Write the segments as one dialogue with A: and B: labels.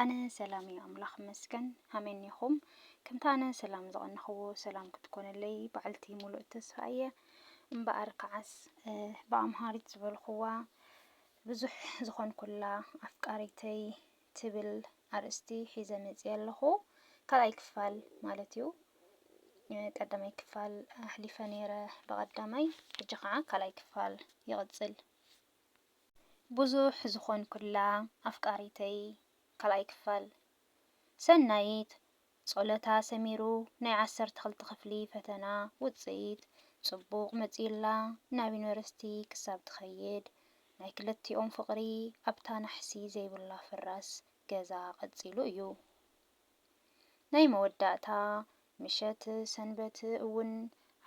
A: ኣነ ሰላም እዩ ኣምላኽ ይመስገን ኣሜን ኒኹም ከምቲ ኣነ ሰላም ዝቐነኽዎ ሰላም ክትኮነለይ በዓልቲ ሙሉእ ተስፋ እየ እምበኣር ከዓስ ብኣምሃሪት ዝበልኽዋ ብዙሕ ዝኾንኩላ ኣፍቃሪተይ ትብል ኣርእስቲ ሒዘ መፅየ ኣለኹ ካልኣይ ክፋል ማለት እዩ ቀዳማይ ክፋል ኣሕሊፈ ነይረ ብቐዳማይ ሕጂ ከዓ ካልኣይ ክፋል ይቕፅል ብዙሕ ዝኾንኩላ ኣፍቃሪተይ ካልኣይ ክፋል። ሰናይት ጾሎታ ሰሚሩ ናይ ዓሰርተ ክልተ ክፍሊ ፈተና ውጽኢት ጽቡቕ መጺኡላ ናብ ዩኒቨርሲቲ ክሳብ ትኸይድ ናይ ክልቲኦም ፍቕሪ ኣብታ ናሕሲ ዘይብላ ፍራስ ገዛ ቀጺሉ እዩ። ናይ መወዳእታ ምሸት ሰንበት እውን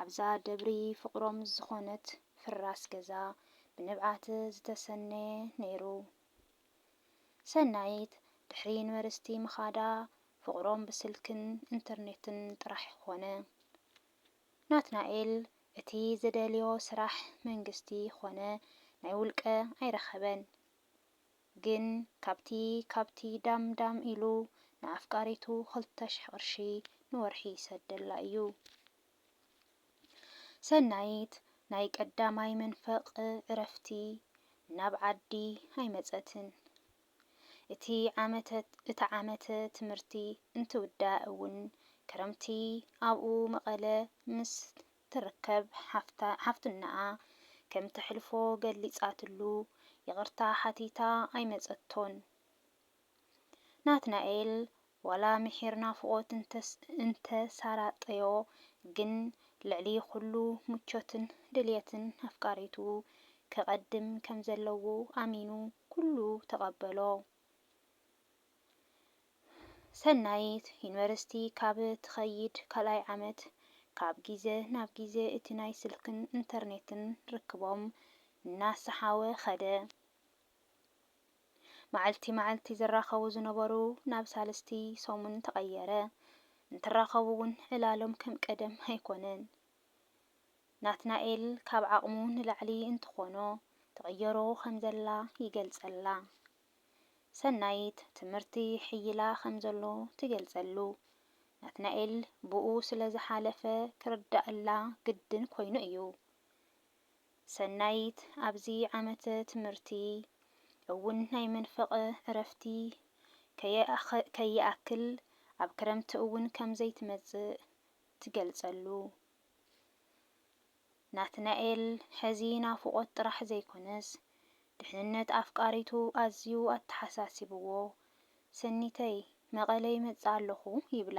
A: ኣብዛ ደብሪ ፍቕሮም ዝኾነት ፍራስ ገዛ ብንብዓት ዝተሰነየ ነይሩ። ሰናይት ድሕሪ ዩኒቨርሲቲ ምኻዳ ፍቕሮም ብስልክን ኢንተርኔትን ጥራሕ ኾነ። ናትናኤል እቲ ዝደልዮ ስራሕ መንግስቲ ኾነ ናይ ውልቀ ኣይረኸበን። ግን ካብቲ ካብቲ ዳም ዳም ኢሉ ንኣፍቃሪቱ ክልተ ሽሕ ቅርሺ ንወርሒ ይሰደላ እዩ። ሰናይት ናይ ቀዳማይ መንፈቅ ዕረፍቲ ናብ ዓዲ ኣይመጸትን። እቲ ዓመተ እቲ ዓመተ ትምህርቲ እንትውዳእ እውን ክረምቲ ኣብኡ መቐለ ምስ ትርከብ ሓፍታ ሓፍትናኣ ከም ተሕልፎ ገሊጻትሉ ይቅርታ ሓቲታ ኣይመጸቶን ናትናኤል ዋላ ምሒር ናፍቆት እንተ እንተ ሳራጠዮ ግን ልዕሊ ኩሉ ምቾትን ድልየትን ኣፍቃሪቱ ከቀድም ከም ዘለዎ ኣሚኑ ኩሉ ተቀበሎ ሰናይት፣ ዩኒቨርሲቲ ካብ ትኸይድ ካልኣይ ዓመት፣ ካብ ግዜ ናብ ግዜ እቲ ናይ ስልክን ኢንተርኔትን ርክቦም እናሰሓወ ኸደ። መዓልቲ መዓልቲ ዝራኸቡ ዝነበሩ ናብ ሳልስቲ ሰሙን ተቐየረ። እንትራኸቡ እውን ዕላሎም ከም ቀደም ኣይኮነን። ናትናኤል ካብ ዓቕሙ ንላዕሊ እንትኾኖ ትቕየሮ ከም ዘላ ይገልፀላ። ሰናይት ትምህርቲ ይሕይላ ከም ዘሎ ትገልጸሉ። ናትናኤል ብኡ ስለ ዝሓለፈ ክርድኣላ ግድን ኮይኑ እዩ። ሰናይት ኣብዚ ዓመተ ትምህርቲ እውን ናይ መንፈቐ ዕረፍቲ ከይኣክል ኣብ ክረምቲ እውን ከም ዘይትመጽእ ትገልጸሉ። ናትናኤል ሕዚ ናፍቖት ጥራሕ ዘይኮነስ ድሕንነት ኣፍቃሪቱ ኣዝዩ ኣተሓሳሲብዎ፣ ሰኒተይ መቐለ ይመጽእ ኣለኹ ይብላ።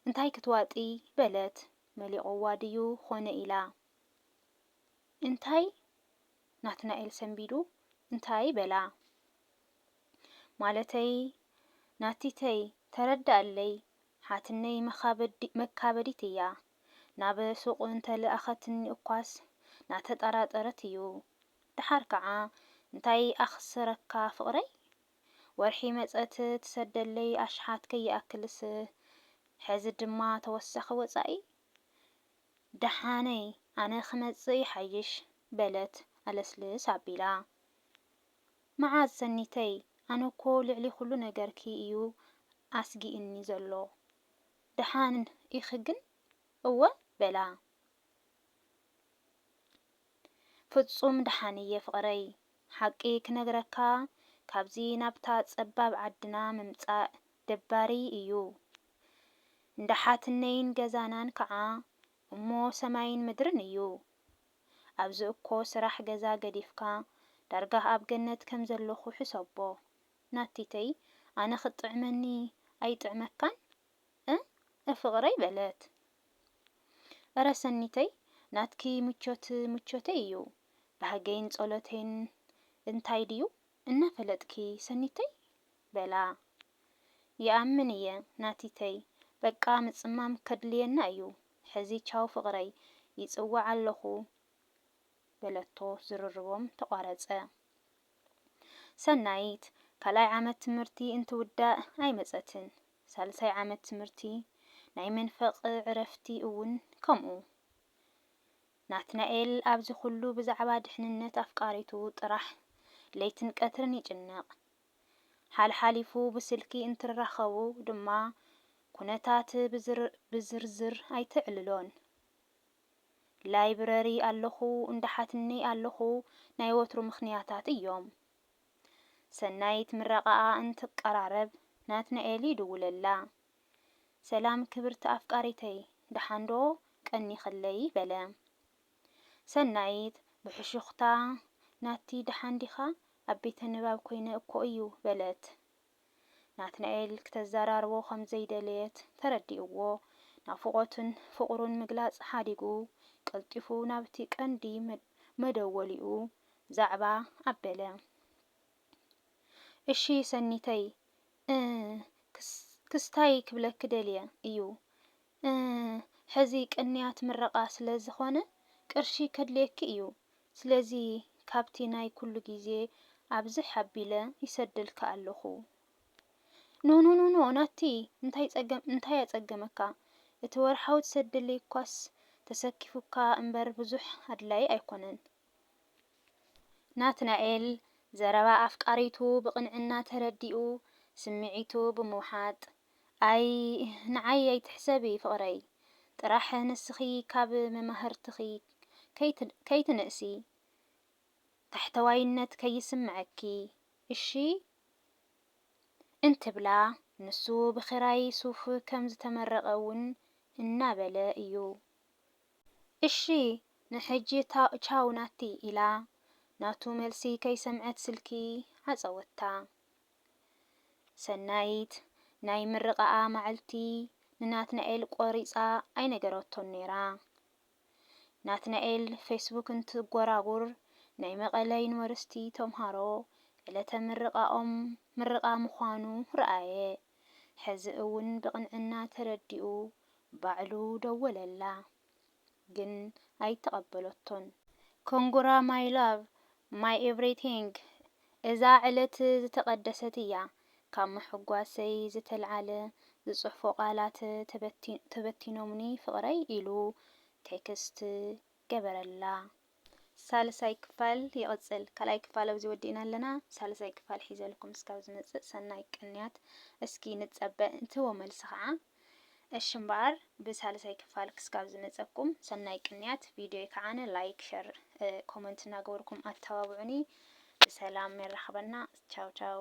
A: እንታይ ክትዋጥዪ በለት፣ መሊቑዋ ድዩ ኾነ ኢላ። እንታይ? ናትናኤል ሰንቢዱ እንታይ በላ። ማለተይ ናቲተይ ተረደኣለይ ሓትነይ መካበዲት እያ ናብ ሱቁ እንተ ልኣኸትኒ እኳስ ናተጠራጠረት እዩ ደሓር ከዓ እንታይ ኣኽስረካ ፍቅረይ ወርሒ መፀት ትሰደለይ ኣሽሓት ከይኣክልስ ሐዚ ድማ ተወሳኺ ወፃኢ ደሓነይ ኣነ ክመፅእ ይሓይሽ በለት ኣለስልስ ኣቢላ መዓዝ ሰኒተይ ኣነ እኮ ልዕሊ ኩሉ ነገርኪ እዩ ኣስጊእኒ ዘሎ ደሓን ኢኪ ግን እወ በላ ፍጹም ደሓን እየ ፍቅረይ ሓቂ ክነግረካ ካብዚ ናብታ ጸባብ ዓድና ምምጻእ ደባሪ እዩ እንዳ ሓትነይን ገዛናን ከኣ እሞ ሰማይን ምድርን እዩ ኣብዚ እኮ ስራሕ ገዛ ገዲፍካ ዳርጋ ኣብ ገነት ከም ዘለኩ ሕሰቦ ናቲተይ ኣነ ክትጥዕመኒ ኣይጥዕመካን እም ፍቅረይ በለት እረ ሰኒተይ ናትኪ ምቾት ምቾተይ እዩ ባህገይን ፆሎተይን እንታይ ድዩ እናፈለጥኪ ሰኒተይ በላ ይኣምን እየ ናቲተይ በቃ ምፅማም ከድልየና እዩ ሕዚ ቻው ፍቕረይ፣ ይጽውዕ ኣለኹ በለቶ፣ ዝርርቦም ተቋረጸ። ሰናይት ካልኣይ ዓመት ትምህርቲ እንትውዳእ ኣይመጸትን፣ ሳልሳይ ዓመት ትምህርቲ ናይ መንፈቅ ዕረፍቲ እውን ከምኡ። ናትናኤል ኣብዚ ኩሉ ብዛዕባ ድሕንነት ኣፍቃሪቱ ጥራሕ ለይትን ቀትርን ይጭነቕ። ሓልሓሊፉ ብስልኪ እንትራኸቡ ድማ ኩነታት ብዝርዝር ኣይተዕልሎን። ላይብረሪ ኣለኹ እንዳሓትኒ ኣለኹ ናይ ወትሩ ምኽንያታት እዮም። ሰናይት ምረቓኣ እንትቀራረብ ናትናኤል ይድውለላ። ሰላም ክብርቲ ኣፍቃሪተይ ደሓንዶ ቀኒኽለይ በለ። ሰናይት ብሕሹኽታ፣ ናቲ ደሓን ዲኻ? ኣብ ቤተ ንባብ ኰይነ እኮ እዩ በለት። ናትናኤል ክተዘራርቦ ከም ዘይደለየት ተረዲእዎ፣ ናፍቖቱን ፍቕሩን ምግላጽ ሓዲጉ ቀልጢፉ ናብቲ ቀንዲ መደወሊኡ ዛዕባ ኣበለ። እሺ ሰኒተይ፣ እ ክስታይ ክብለኪ ደልየ እዩ፣ ሕዚ ቅንያት ምረቓ ስለ ዝኾነ ቅርሺ ከድልየኪ እዩ ስለዚ ካብቲ ናይ ኩሉ ግዜ ኣብዝሕ ኣቢለ ይሰደልኪ ኣለኹ። ኖኖኖኖ ናቲ እንታይ ጸገም እንታይ ኣጸገመካ እቲ ወርሓዊ ትሰደለይ እኳስ ተሰኪፉካ እምበር ብዙሕ ኣድላይ ኣይኮነን። ናትናኤል ዘረባ ኣፍቃሪቱ ብቕንዕና ተረዲኡ ስምዒቱ ብምውሓጥ ኣይ ንዓይ ኣይትሕሰቢ ፍቕረይ ጥራሕ ንስኺ ካብ መማህርትኺ ከይትንእሲ ታሕተዋይነት ከይስመዐኪ እሺ እንትብላ ንሱ ብኽራይ ሱፍ ከም ዝተመረቐ ውን እናበለ እዩ እሺ ንሕጂ ቻው ናቲ ኢላ ናቱ መልሲ ከይሰምዐት ስልኪ ዓፀወታ። ሰናይት ናይ ምርቓኣ መዓልቲ ንናትናኤል ቆሪጻ ኣይነገረቶን ነይራ። ናትናኤል ፌስቡክ እንትጎራጉር ናይ መቐለ ዩኒቨርሲቲ ተምሃሮ ዕለተ ምርቓኦም ምርቓ ምዃኑ ረኣየ። ሕዚ እውን ብቕንዕና ተረዲኡ ባዕሉ ደወለላ። ግን ኣይተቐበለቶን። ኮንግራ ማይ ላቭ ማይ ኤቭሪቲንግ እዛ ዕለት ዝተቐደሰት እያ ካብ ምሕጓሰይ ዝተልዓለ ዝጽሕፎ ቃላት ተበቲኖምኒ ፍቕረይ ኢሉ ቴክስት ገበረላ። ሳልሳይ ክፋል ይቅጽል። ካልኣይ ክፋል ኣብዚ ወዲእና ኣለና ሳልሳይ ክፋል ሒዘልኩም እስካብ ዝመጽእ ሰናይ ቅንያት እስኪ ንጸበ እንትዎ መልሲ ከዓ እሺ እምበኣር ብሳልሳይ ክፋል ክስካብ ዝመጸኩም ሰናይ ቅንያት ቪድዮይ ከዓነ ላይክ ሸር ኮመንት እናገበርኩም ኣተባብዑኒ ብሰላም የራኽበና ቻው ቻው